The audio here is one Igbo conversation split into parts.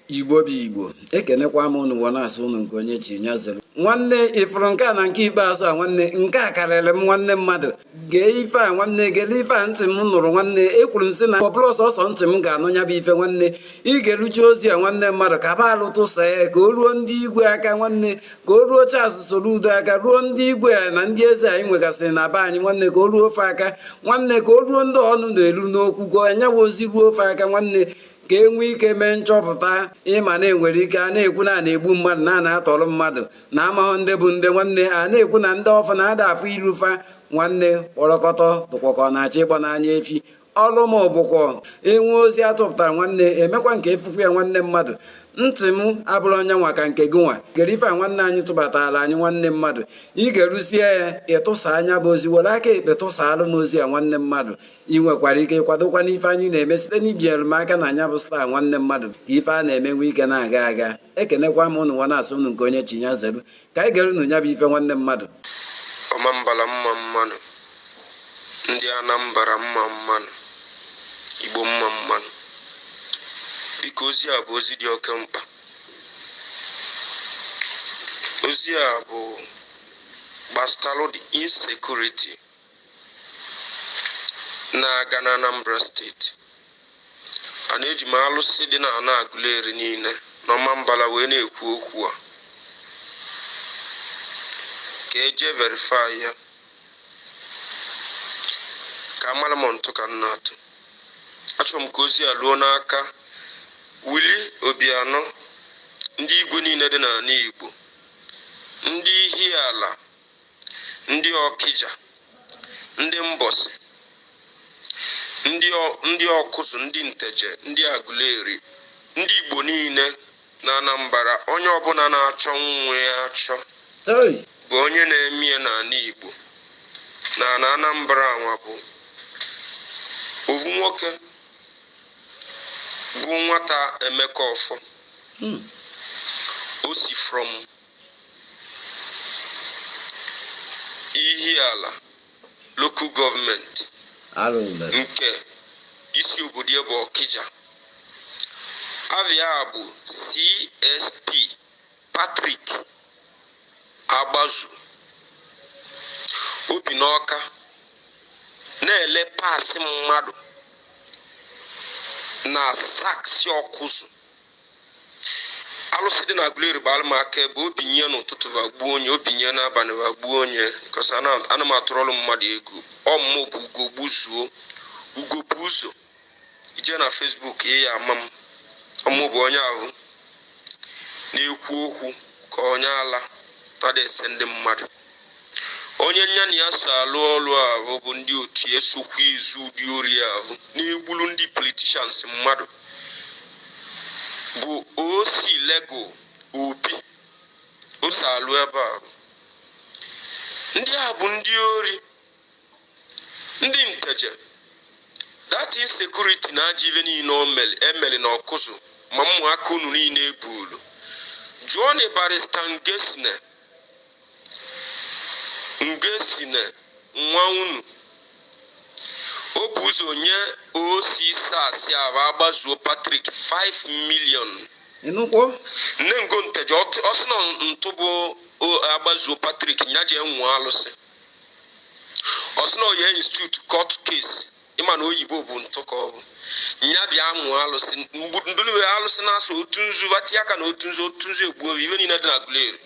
igbo bụ igbo ekenekwa m unu wee na-asị unu nke onye chi nya zere nwanne ịfụrụ nke a na nke ikpeazụ a nwanne nke a karịrị m nwanne mmadụ gee ife a nwanne gele ife a ntị m nụrụ nwanne ekwuru m sị na ọ bụrọ sọsọ ntị m ga-anụ ya bụ ife nwanne ị ga-eruchi ozi a nwanne mmadụ ka ba alụ tụsa ya ka o ruo ndị igwe aka nwanne ka o ruo Charles Soludo aka ruo ndị igwe a na ndị eze anyị nwegasịrị na be anyị nwanne ka o ruo fa aka nwanne ka o ruo ndị ọnụ na-eru n'okwu gụọ nya bụ ozi ruo fa aka nwanne ka e nwee ike mee nchọpụta ịma na enwere ike a na-ekwu na a na-egbu mmadụ na a na-atọrọ mmadụ na amahụ ndị bụ ndị nwanne a na-ekwu na ndị ọfụ na-ada afụ ilu fa nwanne kpọrọkọtọ bụkwa ka ọ na-achọ ịgba n'anya efi ọrụ m bụkwa e nwee ozi atụpụtara nwanne emekwa nke efukwu ya nwanne mmadụ ntị m abụrụ onye nwa ka nke gị nwa gere ife a nwanne anyị tụbatara anyị nwanne mmadụ ị ga-eruzie ya ịtụsa nya bụ ozi were aka ekpe tụsaalụ m ozi a nwanne mmadụ ị nwekwara ike ịkwadokwa n'ife anyị na-eme site n'ibinyere m aka na nya bụ star nwanne mmadụ ka ife a na-eme nwee ike na-aga aga ekenekwa m ụnụ nwa na-asị ụnụ nke onye chi nya zelu ka anyị gere unu nya bụ ife nwanne mmadụ Ọmambala mma mma nụ ndị anambra mma mma nụ igbo mma mma nụ biko ozi a bụ ozi dị oke mkpa ozi a bụ gbasalụ the insecurity na-aga n'Anambra steeti ana eji m alụsị dị na ana Aguleri niile n'Ọmambala wee na-ekwu okwu a ka e je verify ya ka a mara ma ọ ntụ ka m na-atụ achọrọ m ka ozi a ruo n'aka Willie Obiano ndị igwe niile dị n'ana igbo ndị Ihiala ndị ọkija ndị mbọsị ndị ọ- ndị ọkụzụ ndị nteje ndị aguleri ndị igbo niile na anambra onye ọbụla na-achọ nwa ya achọ Hey! bụ onye na-eme ya n'ana igbo n'ana anambra a nwa bụ ovu nwoke bụ nwata Emeka Offor Hmm. o si from Ihiala lokal gọọmenti nke isi obodo ya bụ Ọkịja ava ya bụ CSP Patrick Agbazue o bi n'Ọka na-ele parts mmadụ na SARS ọkụzụ alụsị dị na Aguleri gbara m aka ebe o binye n'ụtụtụ va gbuo onye o binye n'abalị va gbuo onye cause ana m atụrụ mmadụ egwu ọ mmụ bụ Ugogbuzuo Ugogbuzuo ị jee na Facebook ị ya ama m ọ mụ bụ onye ahụ na-ekwu okwu ka onye ala na-ese ndị mmadụ onye nya na ya so alụ ọrụ ahụ bụ ndị otu esokwa izu ụdị ori ahụ na-egburu ndị politicians mmadụ bụ osi lego obi o so alụ ebe ahụ ndị a bụ ndị ori ndị nteje that is security na ajọ ive niile e mere na Awkuzu ma ụmụaka unu niile e gbulu jụọnụ barista Ngoesine Ngoesine nwa unu o bu ụzọ nye OC SARS ahụ Agbazue Patrick 5 million n'ukwu Nnengo Nteje ọ sị na ọ ntụ bụ Agbazue Patrick nya jee ṅụọ alụsị ọ sị na ọ ya institute court case ị ma na oyibo bụ ntụ ka ọ bụ nya bịa ṅụọ alụsị ndụlụwe alụsị na-asụ otu nzu ati aka na otu nzu otu nzu egbuo ive niile dị na Aguleri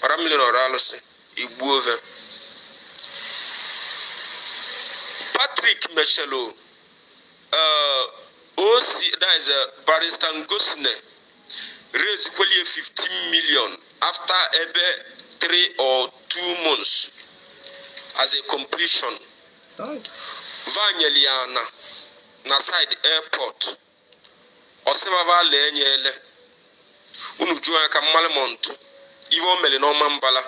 ọra mmiri na ọra alụsị egbuo ve Patrick mechelo eh, osi dize eh, barista Ngoesine rezikwelie 15 million after ebe 3 or 2 months as a completion va nyeli ya na na side airport ọ sị va va ala enye ele unu jụọ ya ka m malị ma ọ ntụ ive o mere n'Omambala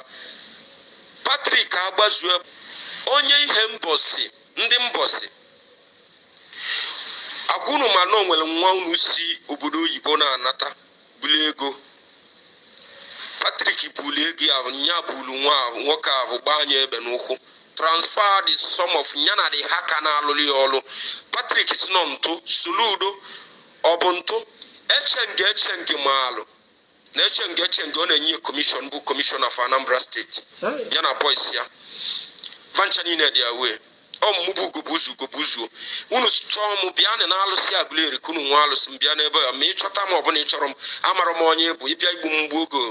Patrick Agbazue onye Ihembosi ndị Mbosi akwa unu ma na o nwere nwa unu si obodo oyibo na-anata bulu ego Patrick bulu ego ya ahụ nya bulu nwa ahụ nwoke ahụ gbaa nya egbe n'ụkwụ transfer the sum of ya na the hacker na-alụrụ ya ọrụ Patrick sị na ọ ntụ Soludo ọ bụ ntụ Echeng Echeng maalụ na Echeng Echeng ọ na-enye commission bụ commissioner of Anambra State Chai. ya na boys ya va ncha niile dị aware ọ mmụ bụ Ugogbuzuo Ugogbuzuo unu chọọ m bịa na n'alụsị Aguleri ka unu ṅụọ alụsị m bịa n'ebe a ma ị chọta m ọ bụ na ị chọrọ m amara m onye bụ ị bịa igbu m m gbuo gị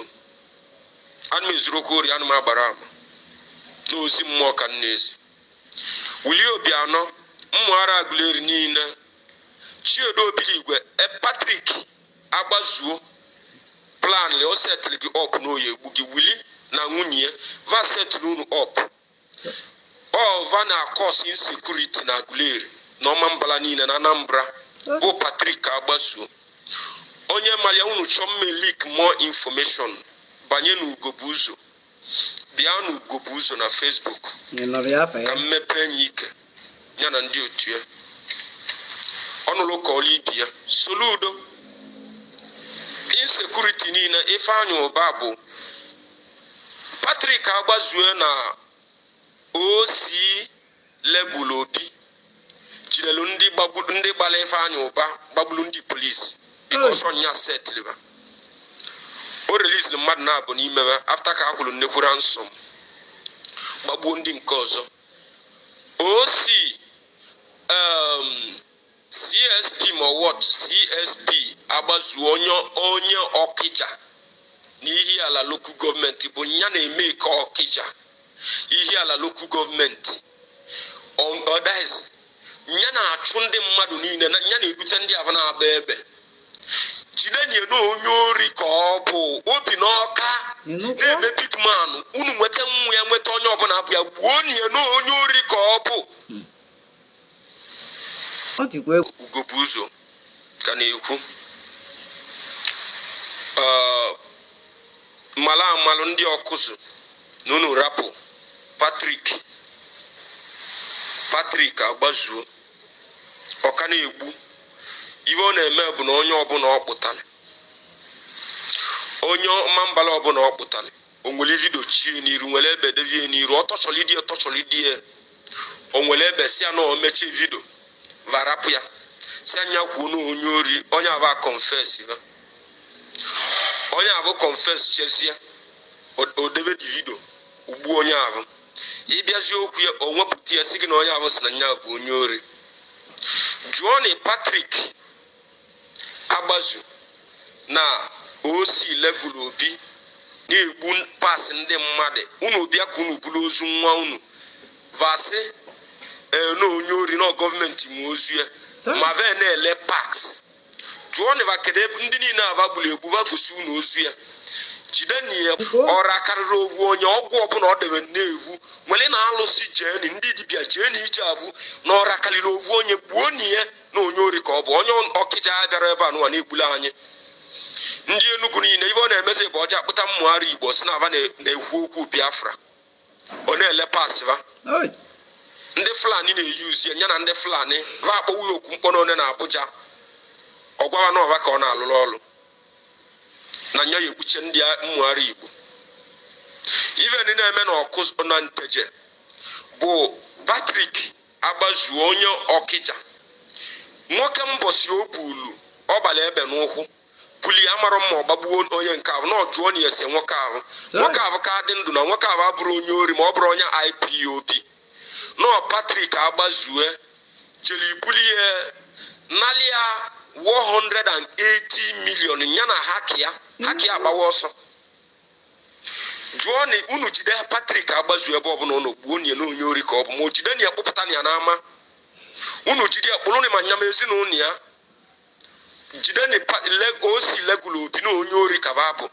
ana m ezuru okwu ori ana m agbara ama n'ozi mmụọ ka m na-ezi Willie Obiano ma ọra Aguleri niile Chinedu Obidigwe e Patrick Agbazue plan o setịrị gị up na ọ ya-egbu gị Willie na nwunye ya va setịrị unu up ọ va na-acause insecurity na Aguleri na Ọmambala niile na Anambra bụ Patrick Agbazue onye mara ya unu chọọ m e-leak more information banye na Ugobu Uzo bịa na Ugobu Uzo na Facebook ka m mepee nya ike ya na ndị otu ya ọnụlụ ka ọlụ ibi ya Soludo insecurity niile Ifeanyi Uba bụ Patrick Agbazue na OC Legal Obi jidere ndị gbara Ifeanyị Ụba gbagburu ndị polisi because ọ nya setịrị ha. o releasiri mmadụ naabọ n'ime ha after ka a kwụrụ nnekwu ransom gbagbuo ndị nke ọzọ OC um, CSP Mowat CSP Agbazue onye onye Ọkịja na Ihiala Local Gọọmenti bụ ya na-eme ike Ọkịja Ihiala Local Gọọmenti Ọ- ọ that is ya na-achụ ndị mmadụ niile na ya na-ebute ndị ahụ na-agba egbe jidenie na onye ori ka ọ bụ obi n'Ọka Ịnụkwa? na-eme pitman unu nweta nwa ya nweta onye ọbụla bụ ya gbuonie na onye ori ka ọ bụ ọ dịkwa egwu Ugobu Uzo ka na-ekwu m malụ amalụ ndị Ọkụzụ na unu rapụ Patrick Patrick Agbazue ọ ka na-egbu ihe ọ na-eme bụ na onye ọbụla ọ kpụtara onye Ọmambala ọbụla ọ kpụtara o were ive dochie n'iru were egbe devie n'iru ọ torturelidie ọ torturelidie o were egbe si ya na o mechie video va rapụ ya si nya kwuo na onye ori onye avụ confess ya onye avụ confesschazie o debe the video o gbuo onye avụ ị bịazi okwu ya o wepụta ya si gị na onye ahụ si na nya bụ onye ori jụọnị Patrick Agbazue na OC Legal Obi na-egbu parts ndị mmadụ unu bịa ka unu buru ozu nwa unu va sị eh, na onye ori na gọọmenti nwe ozu ya ma va na-ele parts jụọnị va kedu ebe ndị niile a va gburu egbu va gosi unu ozu ya jideni ya ọra karịrị ovu onye ọgwụ ọbụla ọ debe na-evu wereni alụsị jeni ndị dibịa jeni ive ọbụna ọra karịrị ovu onye gbuoni ya na onye ori ka ọ bụ onye Okija ya bịara ebe a nụwa na-egbula anyị ndị Enugu niile ive ọ na-emezi bụ ọ ja-akpụta mmụgharị Igbo sị na va na-ekwu okwu Biafra ọ na-ele pasịva ndị Fulani na-eyuzi ya na ndị Fulani va akpọwu ya okwu mkpọ n'one na Abuja ọ gwa va na ọ va ka ọ na-alụrụ ọrụ na nya ya ekpuche ndị mmụgharị Igbo ive ndị na-eme na ọkụ na nteje bụ Patrick agbazue onye Okija nwoke mbọsị o gbulu ọ gbara egbe n'ụkwụ buli ya mara mma ọ gbagbuo onye nke ahụ nọ jụọnụ ya ese nwoke ahụ nwoke ahụ ka dị ndụ na nwoke ahụ abụrọ onye ori ma ọ bụrọ onye ipob na patrik agbazue jere ibuli ya nalị ya 80 million ya na haki ya haki agbawa ọsọ jụọ na unu jide Patrick agbazue ebe ọbụla unu gbuonụ ya na onye ori ka ọ bụ ma o jidenụ ya kpụpụtanụ ya n'ama unu jide ya kpụrụ ma nya ma ezinụlọ ya jide na o si legụlụ obi na onye ori ka va bụ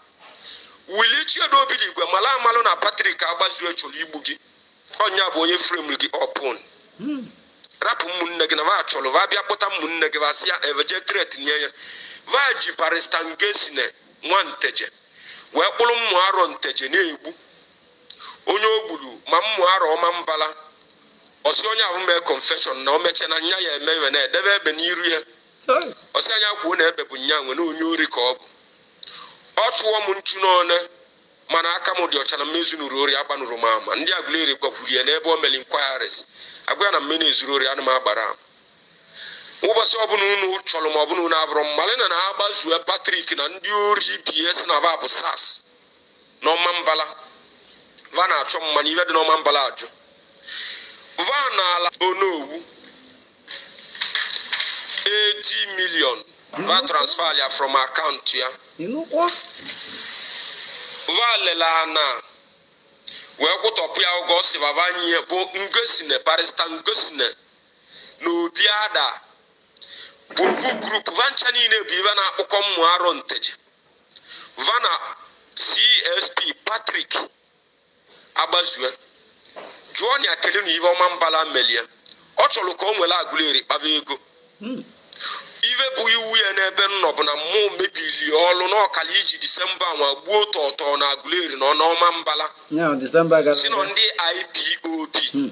wili chiedu obidigwe mala amalụ na Patrick agbazue chọrọ igbu gị ọnya bụ onye frame gị up hmm. rapụ ụmụnne gị na va chọrọ va bịa kpụta ụmụnne gị va si ya eveje tret nye ya va ji barista ngosine nwa nteje wee kpụrụ mmụ arọ nteje na-egbu onye o gburu ma mmụ arọ ọmambala ọ sị onye ahụ mee confession na o mechie na nya ya eme iwe na-edebe egbe n'iru ya ọ sị nya kwuo na egbe bụ nya nwe na onye ori ka ọ bụ ọ tụọ m nchu n'one mana aka m dị ọcha na m ezunurọ ori agbanụrọ m ama ndị agụleri gwakwuru ya n'ebe o meli inquiries agwa ya na mmụ ezurọ ori ana m agbara ama ụbọsị ọbụla unu chọrọ ma ọbụla unu abụrụ mmalị na na agbazue patrik na ndị ori ibe e sị na va bụ sars n'ọmambala va na-achọ mmanya ive dị n'ọmambala ajụ va na ala onowu 80 million va transfer ya from akaụntụ ya va lele ana wee kwụtọpụ ya ụgwọ ọ sị va va nye bụ ngosine barista ngosine na obi ada bụ ofu group va ncha niile bụ ive na-akpụkọ mmụ arọ nteje va na csp patrik agbazue jụọnụ ya kele na ive ọmambala melị e ọ chọrọ ka o were agụleri kpava ego ive bụ iwe ya n'ebe m nọ bụ na mmụ mebili ọlụ na ọ kalị iji disemba nwa gbuo tọtọ na agụleri na ọmambala ya disemba gara sị na ọ ndị ipob Hmm.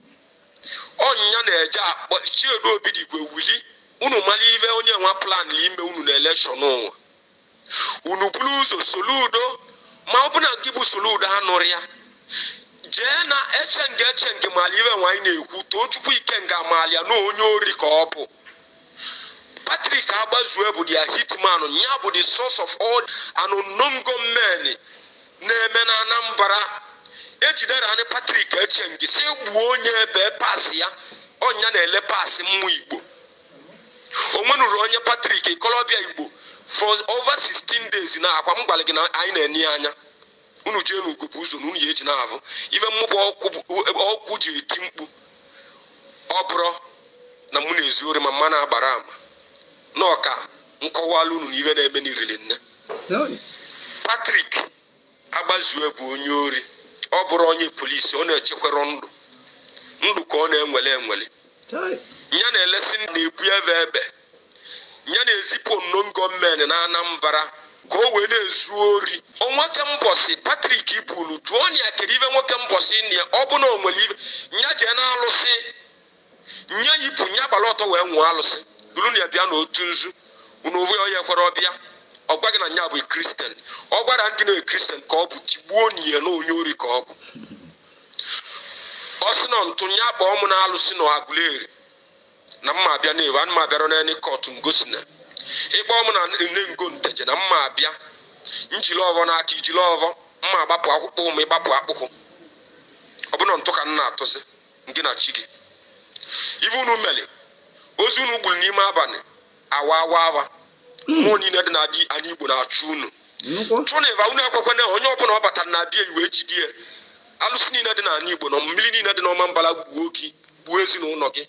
ọnya na-eje akpọ chiedu obidigwe wili unu mara ive onye nwa plan ime unu na election nụwa unu buru ụzọ soludo ma ọ bụ na nke bụ soludo anụrụ ya jee na echeng echeng mara ive nwa anyị na-ekwu tochukwu ikenga malụ ya na onye ori ka ọ bụ Patrick Agbazue bụ their hitman ya bụ the source of all unknown gunmen na-eme na Anambra ejidere anyị Patrick Echengi si egbuo onye ebee parts ya ọ nya na-ele parts ụmụ Igbo onwenuru onye Patrick ikolobịa Igbo for over 16 days na akwa m gwara gị na anyị na-enye ya anya unu jee na ugwu bụ ụzọ na unu ya eji na-ahụ ife mmụba ọkụ ji eti mkpu ọ bụrụ na mụ na-ezu ori ma mma na-agbara ama na ọka nkọwala unu na ife na-eme n'irili nne Patrick Agbazue bụ onye ori ọ bụrụ onye polisi ọ na-echekwara ndụ ndụ ka ọ na-eweli eweli ya na-elesi na-ebu ebe ebe ya na-ezipụ unknown gunmen na Anambra ka o wee na-ezu ori nwoke mbọsị Patrick ibulu jụọ nya kedu ive nwoke mbọsị na ya ọ bụ na o nwere ebe nya jee na alụsị nya yipụ nya gbara ọtọ wee ṅụọ alụsị duru na ya bịa na otu nzu unu uwe onye kwere ọbịa ọ gwa gị na nya bụ kristian ọ gwara ndị na kristian ka ọ bụ tigbuo na ya na onye ori ka ọ bụ ọ sị na ntụ nya kpọọ m na alụsị na Agụleri na mma abịa na-ewe ana m abịara n'elu kọtụ ngosi na ịkpọ m na Nengo Nteje na mma abịa njiri ọfọ n'aka i jiri ọfọ mma agbapụ akpụkwụ m ị gbapụ akpụkwụ ọ bụ na ntụ ka m na-atụsị gị na chi gị ive unu mere ozu unu gburu n'ime abalị awa awa awa mmụọ niile dị n'anị Igbo na-achụ unu chụnịba unu ekwekwana onye ọbụla ọ batara na abịa iwe jide alụsị niile dị n'anị Igbo na mmiri niile dị n'Ọmambala gbuo gị gbuo ezinụlọ gị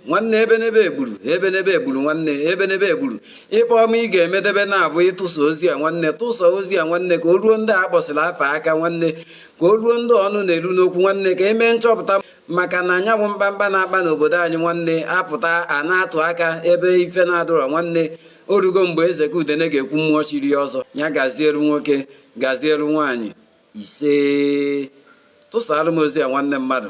nwanne ebenebe egburu ebenebe egburu nwanne ebenebe egburu ife ọma ị ga-emedebe na-abụ ịtụsa ozi a nwanne tụsa ozi a nwanne ka o ruo ndị a kpọsịrị afa aka nwanne ka o ruo ndị ọnụ na-eru n'okwu nwanne ka emee nchọpụta maka na anya ahụ mkpamkpa na-akpa n'obodo anyị nwanne apụta a na-atụ aka ebe ife na-adịrọ nwanne orugo mgbe eze ka udene ga-ekwu mmụọ chiri ọzọ ya gazielu nwoke gazielu nwaanyị isee tụsara m ozi a nwanne mmadụ